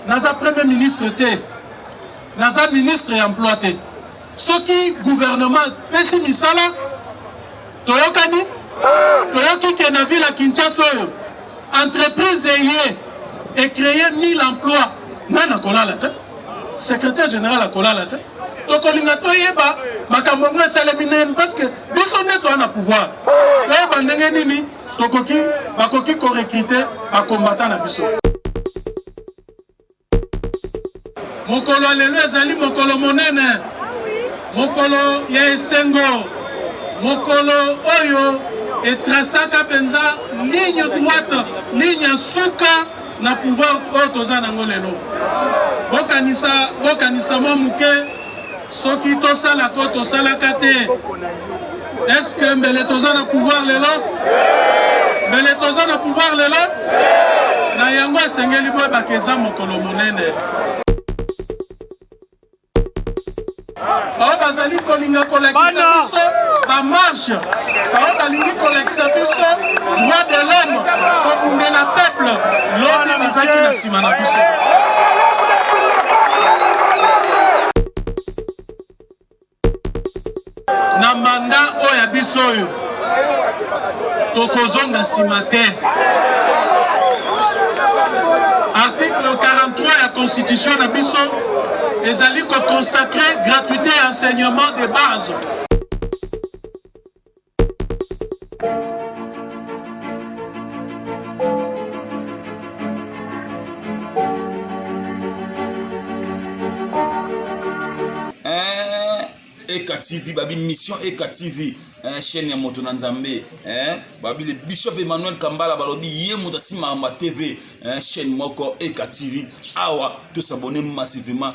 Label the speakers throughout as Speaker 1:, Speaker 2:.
Speaker 1: Naza premier ministre te. Naza ministre ya emploi te. Soki gouvernement pesi misala toyokani toyoki ke na ville ya Kinshasa oyo entreprise eye ecreye 1000 emploi ngai nakolala te secrétaire général akolala te tokolinga toyeba makambo yango esalemi ndenge nini parce que biso nde toa na pouvoir toyeba ndenge nini tokoki bakoki korekrite bakombata na biso mokolo ya lelo ezali mokolo monene mokolo ya esengo mokolo oyo etrasaka mpenza ligne droite ligne ya suka na pouvoir oyo toza nango lelo bokanisa bokanisa mwa moke soki tosala ko tosalaka te eske mbele toza na pouvoir lelo mbele toza na pouvoir lelo na yango esengeli boyebaka eza mokolo monene baoyo bazali kolinga kolakisa biso bamarshe baoyo balingi kolakisa biso droit de l'homme kobundela peuple lobi bazalaki na nsima na biso biso oyo tokozonga nsima te article 43 ya constitution na biso ezali kokonsacre gratuité ya enseignement de base
Speaker 2: Eh, eka tv babi mission eka tv eh, chaîne ya moto na nzambe eh, babi le bishop emmanuel kambala balobi ye moto asimaka ma tv eh, chaîne moko eka tv awa tosabone massivement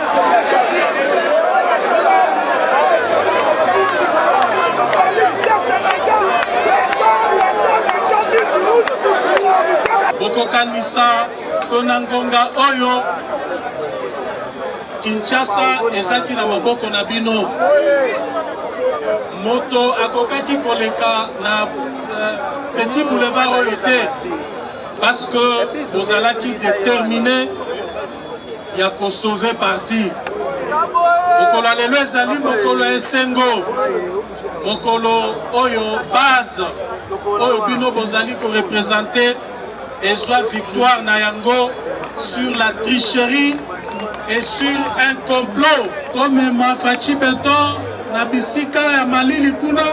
Speaker 1: bokokanisa mpo na ngonga oyo Kinshasa ezaki na maboko na bino. Moto akokaki koleka na uh, petit boulevard oyo te parce que bozalaki determine ya ko sauver parti. Mokolo ya lelo ezali mokolo ya esengo, mokolo oyo base oyo bino bozali ko representer ezwa victoire na yango sur la tricherie et sur un complot komema Fatshi Beton na bisika ya malili kuna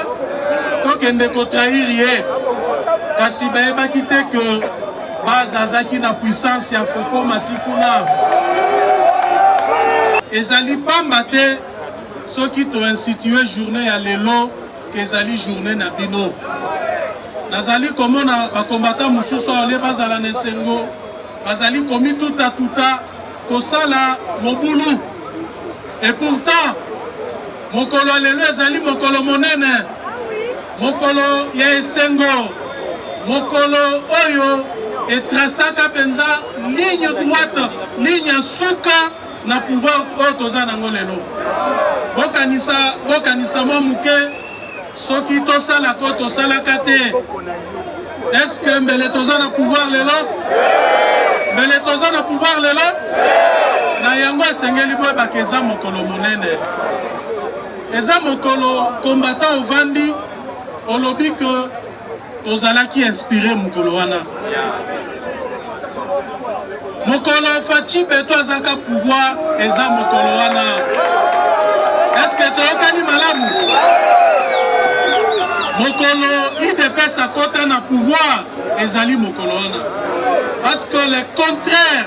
Speaker 1: tokende kotrahir ye kasi bayebaki te que Bazazaki na puissance ya kokoma ti kuna. Ezali pamba te soki to institue journée ya lelo ezali journée na bino. Nazali komona bakombata mosusu awa nde bazala na esengo, bazali komituta tuta kosala mobulu et pourtant Mokolo ya lelo ezali mokolo monene, mokolo ya esengo, mokolo oyo etrasaka mpenza ligne droite, ligne ya suka na pouvoir oyo toza nango lelo. Bokanisa, bokanisa mwa moke, soki tosalaka oyo tosalaka te Est-ce que mbele toza na pouvoir lelo? Mbele toza na pouvoir lelo? Na yango esengeli boyebaka eza mokolo monene, eza mokolo combattant ovandi olobi ke tozalaki inspire mokolo wana Mokolo Fatshi Beton azaka pouvoir eza mokolo wana. Est-ce que toyokani malamu? Mokolo UDPS akota na pouvoir ezali mokolo wana. Parce que le contraire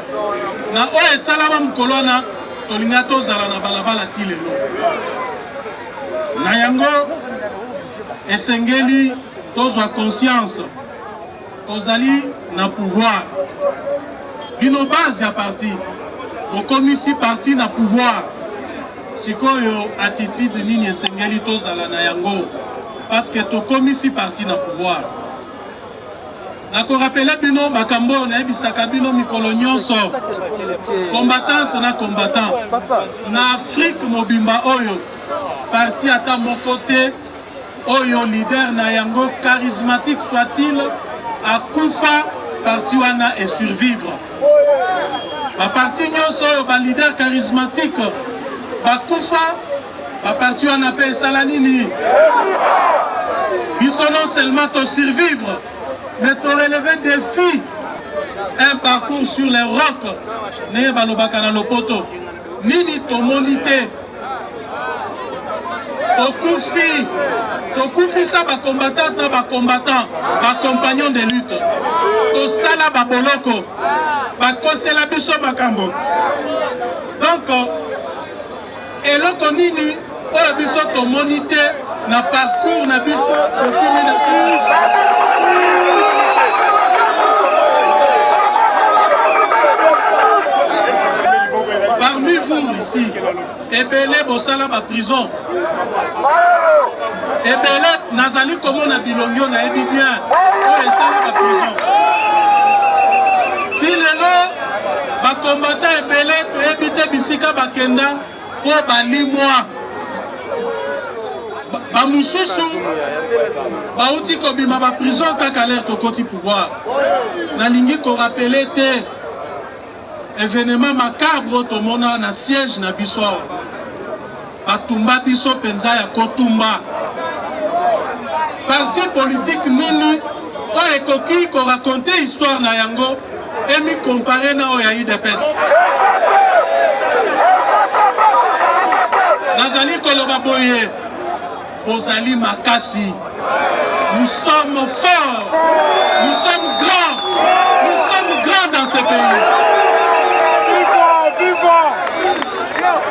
Speaker 1: na oyo esalama mokolo wana tolinga tozala na balabala ti lelo. Na yango esengeli tozwa conscience Tozali na pouvoir. Bino base ya parti. Bokomisi parti na pouvoir. Sikoyo attitude nini esengeli tozala na yango? Parce que tokomisi parti na pouvoir. nakorapele bino makambo oyo nayebisaka bino mikolo nyonso combattante na combattant na afrique mobimba oyo parti ata moko te oyo leader na yango charismatique soit-il akufa parti wana e survivre baparti nyonso oyo baleader charismatique bakufa baparti wana mpe esala nini biso non seulement to survivre mais to relever défi un parcours sur les rocs ndenge balobaka na lopoto Nini tomoni te? Tokufi, tokufisa ba combattantes na ba combattants, ba compagnons de lutte. Tosala ba boloko, bakosela biso makambo. Donc eloko nini oyo biso tomoni te na parcours na biso depuis 1990 parmi vous ici ebele bosala baprison ebele nazali komona bilongi nayebi bien oyo esala baprison ti lelo bakombata ebele toyebi te bisika bakenda Mpo balimwa bamosusu bauti kobima baprison kaka lere tokoti pouvoir. Nalingi korapele te evenema makabre tomona na siège na biso awa, batumba biso mpenza ya kotumba parti politike nini oyo ekoki ko raconter histoire na yango et mi comparer na oyo ya UDPS. Nazali koloba boye, bozali makasi. Nous sommes forts, nous sommes grands, nous sommes grands dans ce pays.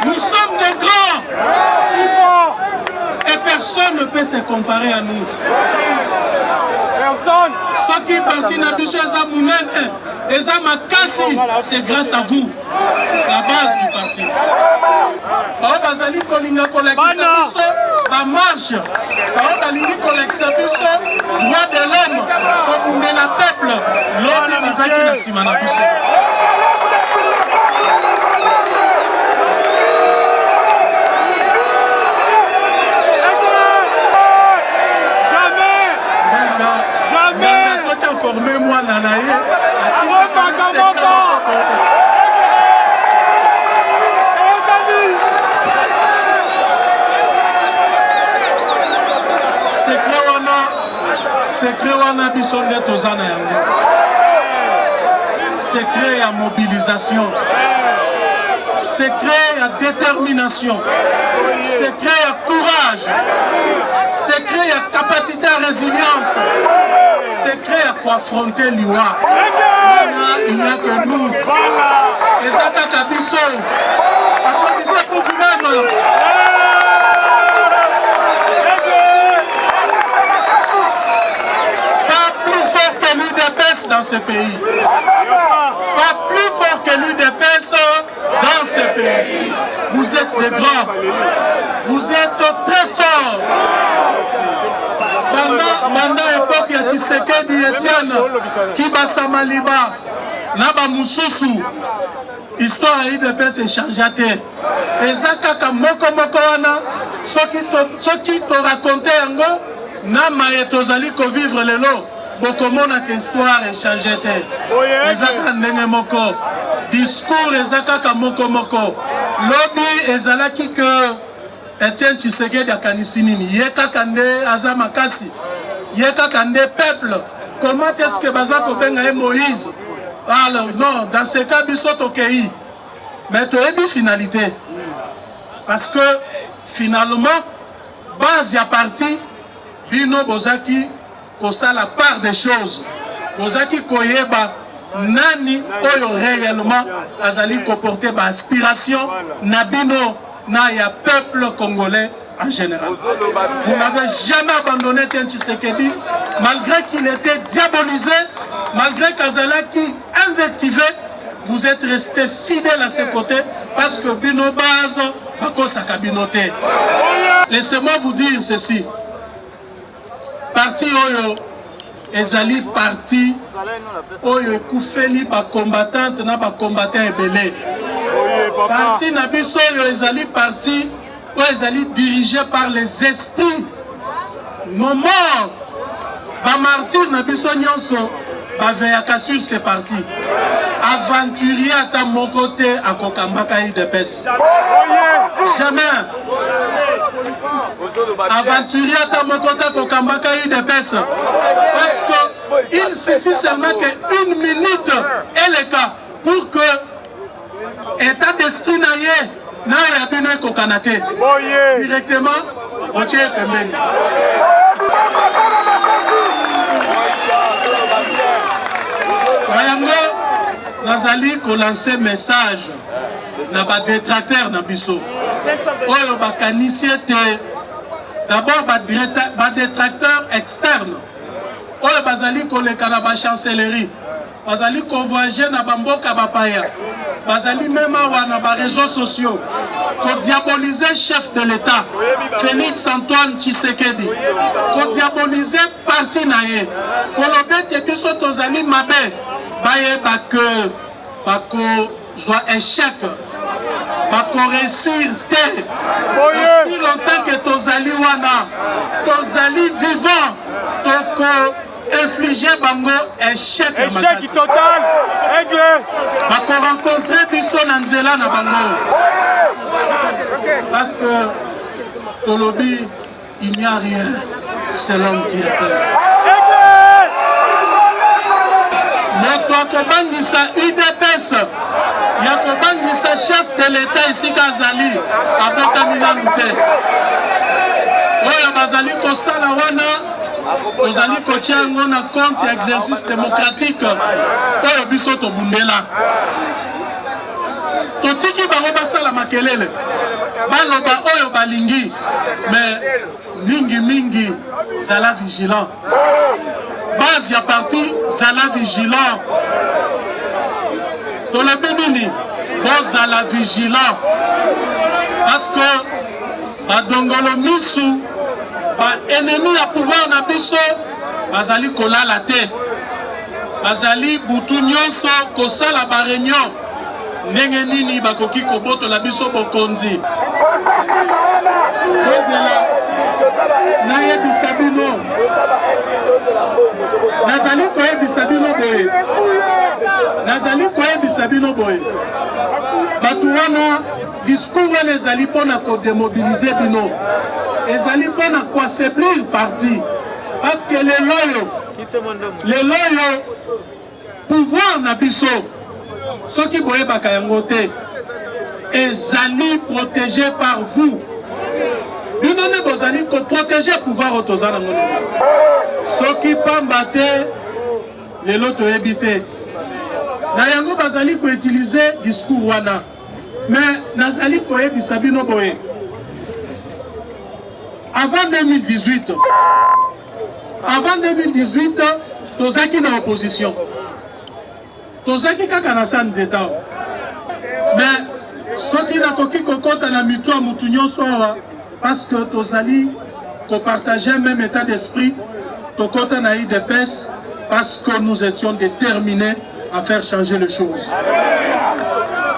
Speaker 1: Nous sommes des grands. Et personne ne peut se comparer à nous. soki parti na biso eza monene eza makasi c'est grâce à vous la base du parti baoyo bazali kolinga kolakisa biso bamarche baoyo balingi kolakisa biso droit de l'homme kobundela peuple lobi bazaki na nsima na biso soki aforme mwana na ye atindaka na sekre Secret wana biso nde toza na yango. Secret ya mobilisation. Secret ya détermination. Secret ya courage. Secret ya capacité à résilience. Secret ya koaffronter liwa. Wana il n'y a que nous. Eza kaka biso. dans ce pays. Pas plus fort que l'UDPS dans ce pays. Vous êtes des grands. Vous êtes très forts. banda époque ya tshisekedi etienne kibasa maliba na bamosusu Histoire ya UDPS echangea te, eza kaka moko moko wana. Soki to, soki to raconte yango na maye tozali ko vivre lelo, bokomona que histoire echange te, eza kaka ndenge moko. Discours eza kaka moko moko. Lobi ezalaki que Etienne Tshisekedi akanisi nini? Ye kaka nde aza makasi, ye kaka nde peuple. Comment est-ce que baza kobenga ye Moïse? Alors non, dans ce cas biso tokei, mais toyebi finalité parce que finalement base ya parti bino bozaki kosala part des choses bozaki koyeba nani oyo réellement azali koporte ba aspiration na bino na ya peuple congolais en général. Vous n'avez jamais abandonné Tien Tshisekedi, malgré qu'il était diabolisé, malgré Kazalaki invectivé, vous êtes resté fidèle à ses côtés parce que Bino Baz, Bako Sakabinote. Laissez-moi vous dire ceci. Parti oyo ezali parti oyo ekufeli bacombattante na bacombatant ebele parti na biso oyo ezali parti oyo ezali dirige par les esprits nos morts bamartire na biso nyonso baveyaka sur ce parti aventurier ata moko te akokambaka udps jamais aventurier ata moko te akokambaka udps parce que il suffit seulement que une minute eleka pour que Etat d'esprit na ye na ya bino ekokana te. Directement otie ye pembeni. Na yango nazali kolanse message na badetracteur na biso oyo bakanisi ete d'abord badetracteur externe oyo bazali koleka na bachancellerie bazali convoyage na bamboka bapaya bazali meme awa na bareseau sociaux kodiabolize chef de l'état félix antoine tshisekedi kodiabolize parti na ye koloba ete biso tozali mabe bayeba ke bako zwa echec bakoresir te osi longtemps ke tozali wana tozali vivant toko inflige bango echec ya makasi bakorencontre biso na nzela na bango parce que tolobi Il n'y a rien, c'est l'homme qui est peur. moto akobangisa udps ya kobangisa chef de l'etat esika azali abotami nanu te oyo bazali kosala wana tozali kotya yango na compte ya exercice démocratique oyo biso tobundela totiki bango basala makelele baloba oyo balingi me mingi mingi zala vigilant base ya parti zala vigilant tolobi nini bozala vigilant parce que badongolo misu baennemi ya pouvoir na biso bazali kolala te bazali butu nyonso kosala bareunion ndenge nini bakoki kobotola biso bokonzi bozela nayebisa bino nazali koyebisa bino boye nazali koyebisa bino boye bato wana discours wana ezali mpo na kodemobilize bino ezali mpo na koaffaiblir parti parce que lelo oyo lelo oyo pouvoir na biso soki boyebaka yango te ezali protégé par vous bino nde bozali koprotege pouvoir oyo toza nango lelo soki pamba te lelo toyebi te na yango bazali koutilize discours wana me nazali koyebisa bino boye avant 2018 Avant 2018, tozaki na opposition. Tozaki kaka na San Nzeta. Mais soki nakoki kokota na mitu ya mutu nyonso awa parce que tozali kopartager même état d'esprit tokota na idps parce que nous étions déterminés à faire changer les choses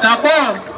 Speaker 1: d'abord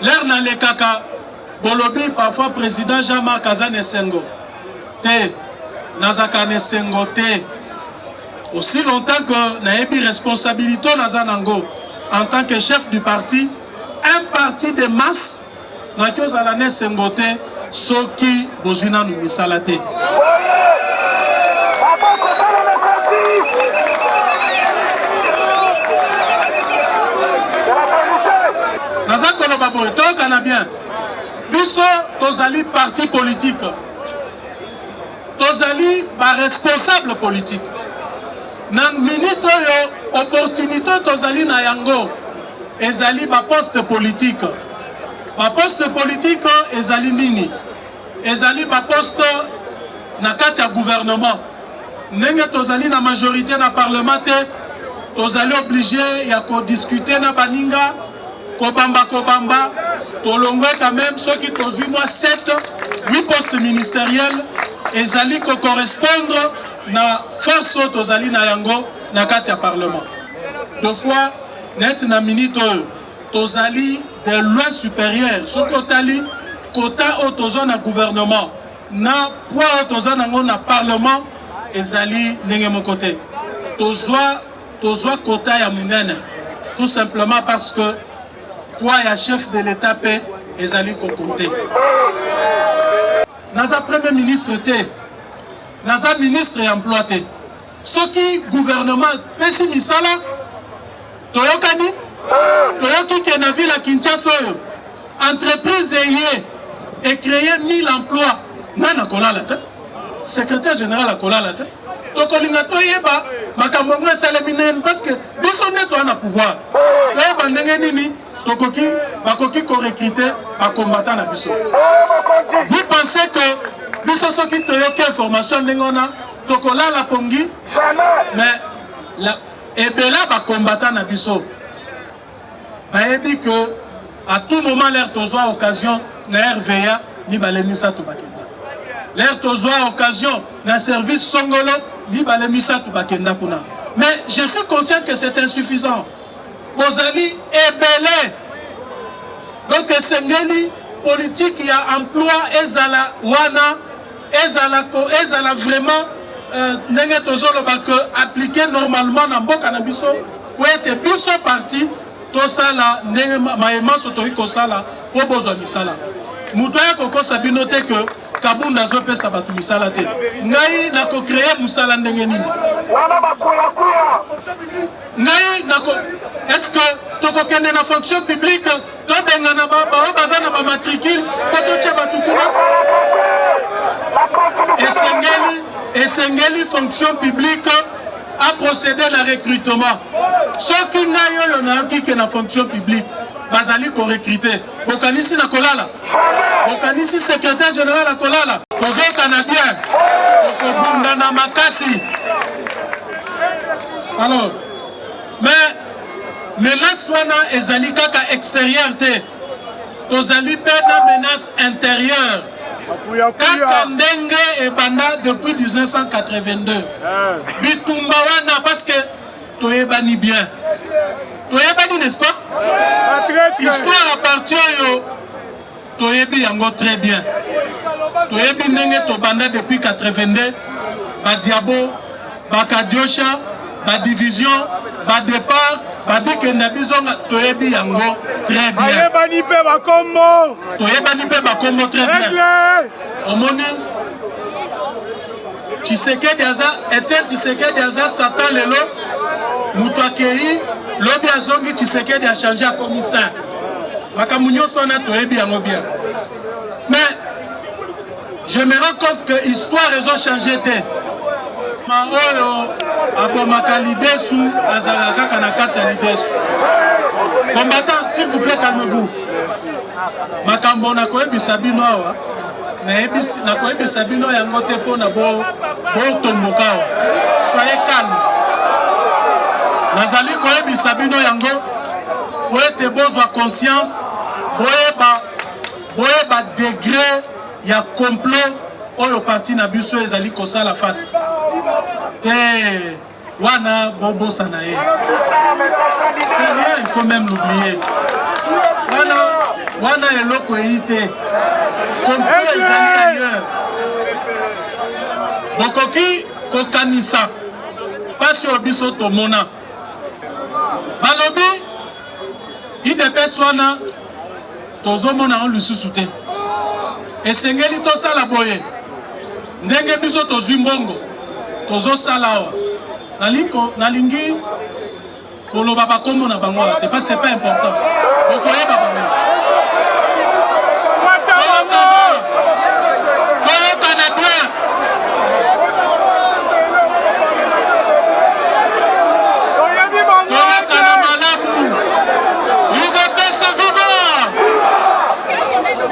Speaker 1: lere nalekaka bolobi parfois président jean marc aza na esengo te nazaka na esengo te aussi longtemps que nayebi responsabilité naza nango en tant que chef du parti un parti de masse Nakiozala na esengo te soki bozwi nanu misala te. Naza koloba boye toyokana bien, biso tozali parti politique, tozali ba responsable politique na minute oyo opportunité tozali na yango Ezali ba poste politique. Ba poste politique ezali nini? Ezali ba poste na kati ya gouvernement. Ndenge tozali na majorité na parlement te, tozali oblige ya kodiscute na baninga kobamba kobamba tolongwe quand même soki tozwi mwa 7 8 poste ministériel ezali kocorrespondre na force oyo tozali na yango na kati ya parlement deux fois Neti na minute oyo tozali de loin superieur soki otali kota oyo toza na gouvernement na poids oyo toza nango na parlement ezali ndenge moko te tozwa tozwa kota ya monene tout simplement parce que poids ya chef de l'état mpe ezali kokonte naza premier ministre te naza ministre ya emploi te Soki gouvernement pesi misala toyokani toyoki ke na ville ya Kinshasa oyo entreprise eye ecreye 1000 emploi nani akolala te secrétaire général akolala te tokolinga toyeba makambo yango esalemi ndenge nini parceke biso nde toya na pouvoir toyeba ndenge nini tokoki bakoki korekrite bakombata na biso vous pensez que biso soki toyoki information ndenge wana tokolala pongi mais la, ebela bakombata na biso bayebi que à tout moment lere tozwa occasion na rva mibale misato bakenda lere tozwa occasion na service songolo mibale misato bakenda kuna mais je suis conscient que c'est insuffisant bozali ebele donc esengeli politiki ya emploi ezala wana ezala ko ezala vraiment euh, ndenge tozoloba que appliquer normalement na mboka na biso po ete biso parti tosala ndenge maye manso toki kosala po bozwa misala moto aya kokosa bino te que kabunda azopesa bato misala te ngai nakocreye mosala ndenge nini ngai nako est ce que tokokende na fonction publique tobengana baoyo baza na bamatricule mpo totya bato kuna esengeli esengeli fonction publique aprocede na recrutement soki ngai oyo nayoki ke na fonction publique bazali korekrute bokanisi na kolala bokanisi secrétaire général ya kolala tozokana bien okobundana makasi alors Mais menace wana ezali kaka exterieur te, tozali mpe na menace interieure kaka ndenge ebanda depuis 1982 ah. bitumba wana parce que toyebani bien toyebani n'est-ce pas histoire ya parti oyo Toyebi yango très bien. Toyebi ndenge tobanda depuis 82 ba diabo, ba kadiosha, ba division, ba départ, ba bikenda bizonga toyebi yango très bien. Bayebani pe ba kombo. Toyebani pe ba kombo très bien. Omoni Tshisekedi aza Etienne Tshisekedi aza satan lelo moto akei lobi azongi Tshisekedi achange akomi saint makambo nyonso wana toyebi yango bien mais je me rends compte que histoire ezo change te ma oyo abomaka lidesu azalaka kaka na kati ya lidesu combattant s'il vous plaît calme vous makambo nakoyebisa bino awa nayebisi nakoyebisa bino yango te mpo na botombokawa soye calme nazali koyebisa bino yango po ete bozwa conscience boyeba boyeba degre ya complot oyo parti na biso ezali kosala face te Wana bobosa na ye. C'est rien, il faut même l'oublier. Wana wana eloko eyi te. Complot ezali ailleurs. Bokoki kokanisa mpasi oyo biso tomona. Balobi idps wana tozomona yango lisusu te esengeli tosala boye ndenge biso tozwi mbongo tozosala awa nalingi koloba bakombo na bango awa te parce c'est pas important bokoyeba bango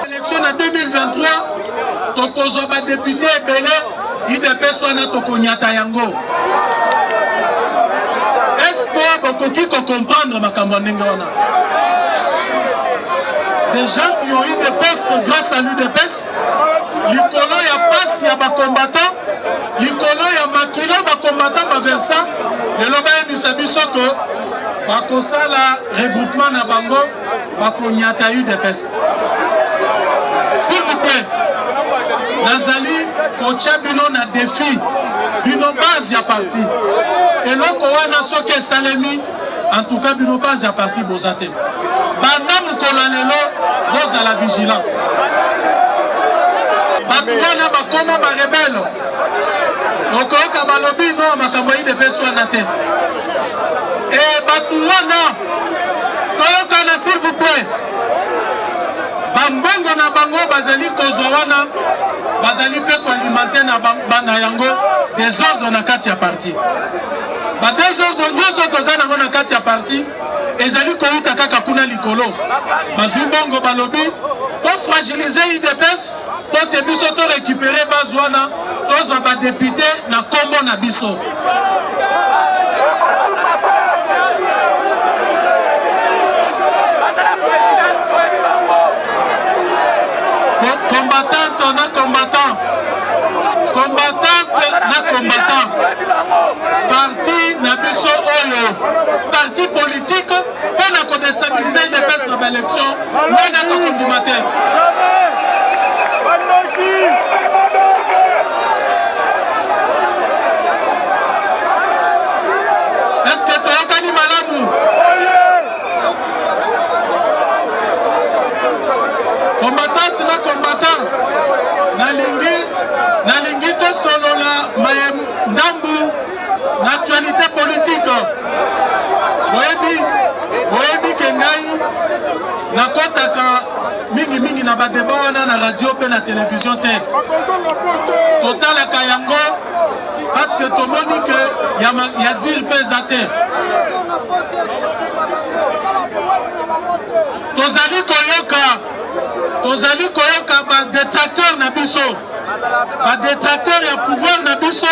Speaker 1: Election na 2023 tokozwa badepute ebele idps wana tokonyata yango eske bokoki kokomprendre makambo ya ndenge wana des gens qui ont eu des postes grâce à l'UDPS, likolo ya pasi ya bakombatan likolo ya makila bakombatan baversa lelo bayebisa biso ke bakosala regroupement na bango bakonyata udps s'il vous plaît nazali kotya bino na defi bino base ya parti eloko wana soki esalemi antuka bino base ya parti boza te banda mokolo ya lelo bozala vigilant bato wana bakoma barebele okoyoka balobi no makambo ya idps wana te Eh, batu wana toyokana s'il vous plaît. Bambongo na bango bazali kozwa wana bazali mpe koalimenter na bana yango desordre na kati ya parti. Ba desordre nyonso toza nango na kati ya parti ezali kowuta kaka kuna likolo. Bazwi mbongo balobi ko fragiliser UDPS mpo te biso to récupere base wana tozwa badepute na nkombo na biso combattante na combattant combattante na combattant parti na biso oyo parti politique mpo na kodestabilize udps na baelection wana tokondima te eske toyokani malamu combatante na combatant nalingi nalingi tosolola maye ndambu L'actualité politique boyebi boyebi ke ngai nakotaka mingimingi na badeba wana na radio mpe na televizio te totalaka yango paske tomoni ke ya dire mpe eza te tozali koyoka tozali koyoka badetracteur na biso badetracteur ya pouvoir na biso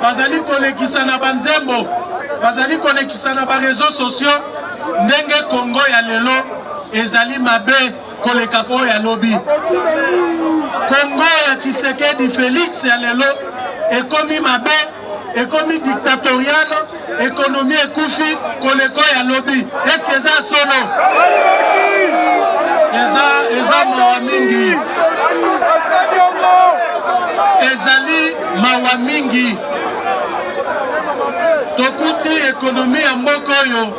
Speaker 1: bazali kolekisa na banzembo bazali kolekisa na bareseau sociaux ndenge kongo ya lelo ezali mabe koleka oyo ya lobi kongo ya tshisekedi felix ya lelo ekomi mabe ekomi dictatorial ekonomi ekufi koleko ya lobi eske eza solo eza eza mawa mingi ezali mawa mingi tokuti ekonomi ya mboka oyo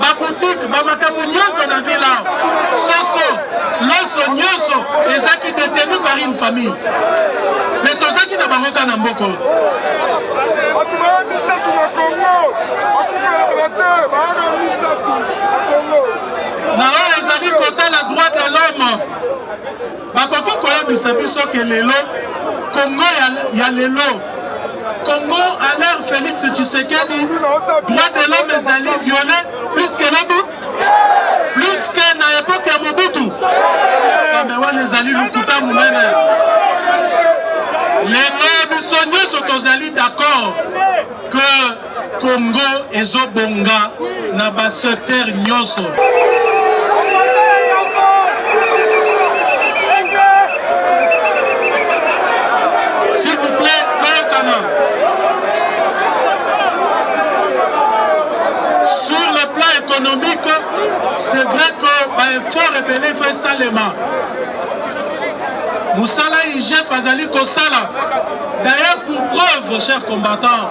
Speaker 1: bakotika bamakambo nyonso na vila soso loso nyonso ezaki detenu par une famille me tozaki na bango ka na mboko na oyo ezali kotala droit de l'homme Bakoki koyebisa biso ke lelo Congo ya, ya lelo Congo à l'ère Félix Tshisekedi droit de l'homme ezali violé plus que nabi plus que na époque ya Mobutu bambe wana ezali lokuta monene lelo biso nyonso tozali d'accord que Congo ezobonga na ba secteur nyonso. c'est vrai que baeffort ebele efo esalema mosala igf azali kosala d'ailleurs pour preuve cher combattant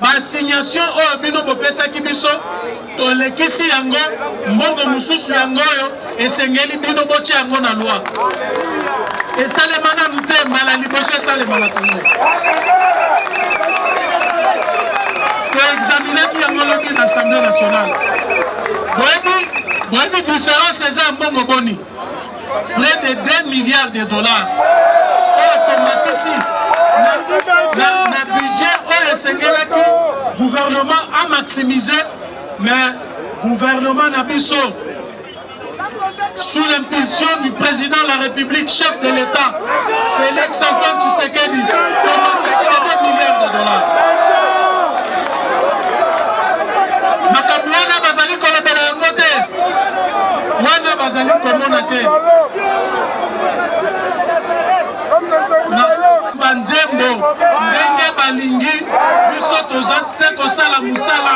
Speaker 1: Ba signations oyo bino bopesaki biso tolekisi yango, mbongo mosusu yango oyo esengeli bino botya yango na loi. Esalema nanu te, mbala liboso esalema na Kongo. Toexaminaki yango lobi na Assemblée nationale. Boyebi boyebi diference eza ya mbongo boni? Près de 2 milliards de dollars oyo tomatisi na budget oyo esengelaki gouvernement a maximiser mais gouvernement na biso sous l'impulsion du président de la République, chef de l'État, Felix Antoine Tshisekedi komatisi na 2 milliards de dollars. Makambo wana bazali kolobela yango te, wana bazali komona te banzembo ndenge balingi biso toza te kosala mosala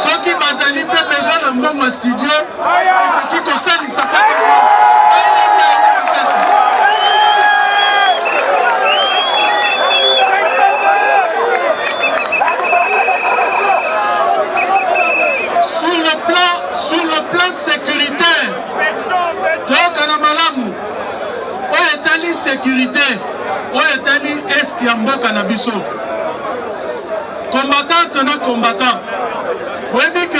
Speaker 1: soki bazali mpe besoin na mbongo ya studio ekoki kosalisa mpe bango bayeba yango makasi sur le plan sur le plan sécuritaire toyokana malamu oyo etali sécurité oyo etali est ya mboka na biso Combattante na combattant, oyebi ke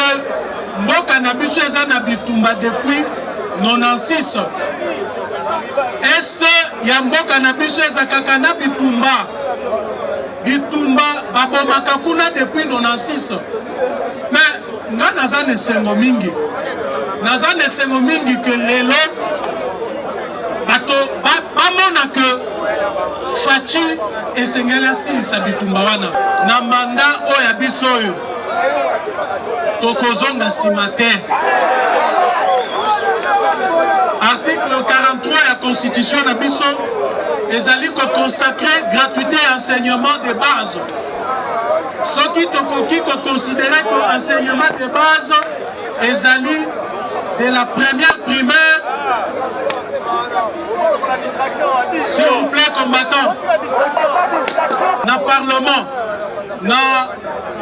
Speaker 1: mboka na biso eza na bitumba depuis 96 este ya mboka na biso eza kaka na bitumba bitumba babomaka kuna depuis 96 me nga naza na esengo mingi naza na esengo mingi ke lelo bato bamona ke faci esengeli asilisa bitumba wana na manda oyo ya biso oyo tokozonga nsima te article 43 ya constitution na biso ezali kokonsacre gratuité ya enseignement de base soki tokoki kokonsidere ko enseignement de base ezali de la première primaire s'il vous plaît combattant na parlement na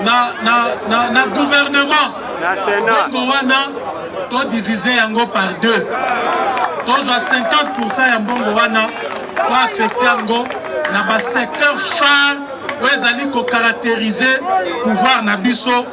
Speaker 1: na na na, na gouvernement bongo wana todivise yango par deux tozwa 50 ya mbongo wana toaffecte yango na basecteur phare oyo ezali kocaracterize pouvoir na biso